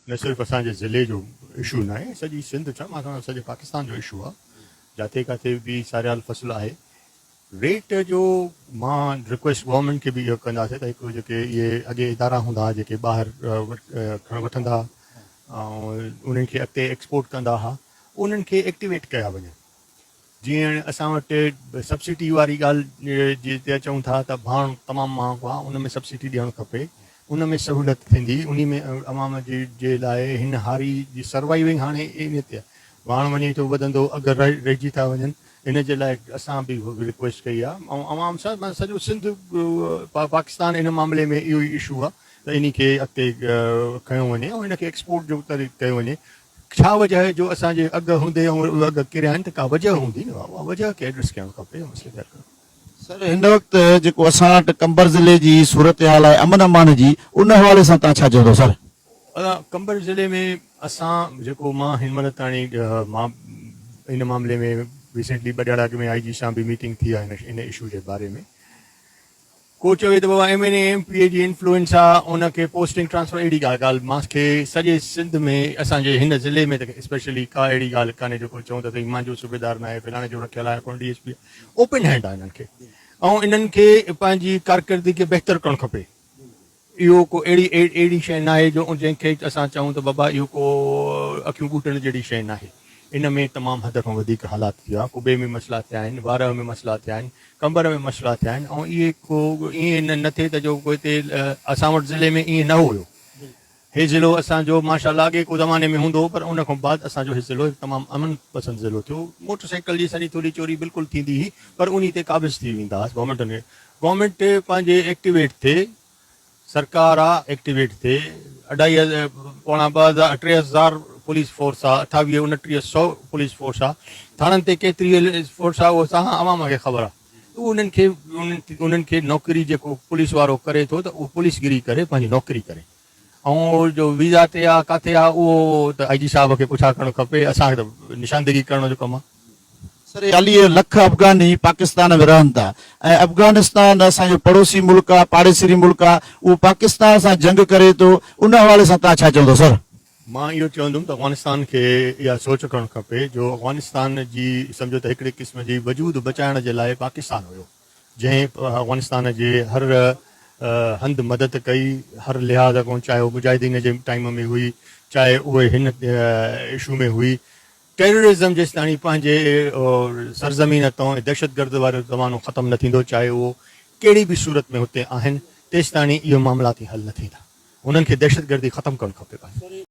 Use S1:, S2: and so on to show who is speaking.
S1: نه صرف اسان جي ضلعي جو اشو ناهي سڄي سنڌ ڇا مان سمجهان سڄي پاڪستان جو اشو آهي جاتي ڪاتي به ساريال فصل آهي ريٽ جو مان رڪويسٽ گورنمينٽ کي به اهو ڪنداسي ته هڪ جيڪي اهي اڳي ادارا هوندا هئا جيڪي ٻاهر کڻ وٺندا انهن کي اڳتي ايڪسپورٽ ڪندا هئا انهن کي ايڪٽيويٽ ڪيا وڃن جيئن هاڻي اسان وٽ سبسڊي واري ڳالهه جي تي اچون ٿا ته ڀاڻ تمام مهانگو آهي ان ۾ سبسڊي ڏيڻ کپي ان ۾ سهولت ٿيندي انهي ۾ عوام جي لاء هن هاري جي سروائيونگ هاڻي انهي تي آهي ڀاڻ وڃي ٿو وڌندو اگهه رهجي ٿا وڃن ان جي لاء اسان به رڪويسٽ ڪئي آهي ۽ عوام سان سڄو سنڌ پاڪستان ان معاملي ۾ اهو ئي اشو آهي ته انهي کي اڳتي کنيو وڃي ۽ ان کي ايڪسپورٽ جو طريق ڪيو وڃي ڇا وجه آهي جو اسان جي اگهه هوندي ۽ اهي اگهه ڪريا آهن ته ڪا وجه هوندي نه اها وجه کي ايڊريس ڪيڻ کپي ۽ مسئلي کي حل ڪرڻ. سر هن وقت
S2: جيڪو اسان وٽ قمبر ضلعي جي صورتحال آهي امن امان جي ان حوالي سان تان ڇا چوندو سر. قمبر
S1: ضلعي ۾ اسان جيڪو مان هن مهل تاڻي مان ان معاملي ۾ ريسينٽلي ٻه ڏهاڙا اڳ ۾ آء جي سان به ميٽنگ ٿي آهي ان اشو جي باري ۾ ڪو چوي ته بابا M N A M P A جي انفلوئنس آ ان کي پوسٽنگ ٽرانسفر اهڙي ڪا ڳالهه مان کي سڄي سنڌ ۾ اسان جي هن ضلعي ۾ ته اسپيشلي ڪا اهڙي ڳالهه ڪانهي جو ڪو چون ته سائين مانجو صوبيدار ناهي فلاڻي جو رکيل آ يا ڪونه ڊي ايس پي آ اوپن هينڊ آ انهن کي ۽ انهن کي پنهنجي ڪارڪردگي کي بهتر ڪرڻ کپي اهو ڪو اهڙي اهڙي شيء ناهي جو جنهن کي اسان چئون ته بابا اهو ڪو اکيون ٻوٽڻ جهڙي شيء ناهي. ان ۾ تمام حد کان وڌيڪ حالات ٿيا، ڪٻي ۾ مسئلا ٿيا آهن، وارهه ۾ مسئلا ٿيا آهن، ڪنڀر ۾ مسئلا ٿيا آهن ۽ اهي ڪو ائين نه ٿئي ته جو ڪو هتي اسان وٽ ضلعي ۾ ائين نه هيو. هي ضلعو اسان جو ماشاء الله اڳي ڪو زماني ۾ هوندو هو پر ان کان بعد اسان جو هي ضلعو هڪ تمام امن پسند ضلعو ٿيو. موٽر سائيڪل جي سني ٿوري چوري بلڪل ٿيندي هئي پر انهي تي قابض ٿي ويندا هئاسين. گورنمينٽ پنهنجي ايڪٽيويٽ ٿي، سرڪار آ ايڪٽيويٽ ٿي، اڍائي پوڻا ٻه هزار ٽي هزار پوليس فورس آ، اٺاويهه اڻٽيهه سئو پوليس فورس آ، ٿاڻن تي ڪيتري فورس آ اهو سان عوام کي خبر آ، اهو انهن کي انهن کي نوڪري جيڪو پوليس وارو ڪري ٿو ته اهو پوليس گري ڪري پنهنجي نوڪري ڪري. ائين جو ويزا تي آ ڪاٿي آ اهو ته آء جي صاحب کي پڇا ڪرڻ کپي اسان کي ته نشاندهي ڪرڻ جو ڪم آ. سر چاليهه
S2: لک افغاني پاڪستان ۾ رهن ٿا ۽ افغانستان اسان جو پڙوسي ملڪ آ پاڙيسري ملڪ آ اهو پاڪستان سان جنگ ڪري ٿو ان حوالي سان توهان ڇا چوندو سر. مان اهو چوندم
S1: ته افغانستان کي اها سوچ ڪرڻ کپي جو افغانستان جي سمجهو ته هڪڙي قسم جي وجود بچائڻ جي لاء پاڪستان هيو جنهن افغانستان جي هر هنڌ مدد ڪئي، هر لحاظ کان چاهي اهو مجاهدين جي ٽائيم ۾ هئي، چاهي اهي هن اشو ۾ هئي. ٽيررزم جيستاڻي پنهنجي سرزمين تان دهشتگرد وارو زمانو ختم نه ٿيندو، چاهي اهو ڪهڙي به صورت ۾ هتي آهن، تيستاڻي اهي معاملات ئي حل نه ٿيندا. هنن کي دهشتگردي ختم ڪرڻ کپي.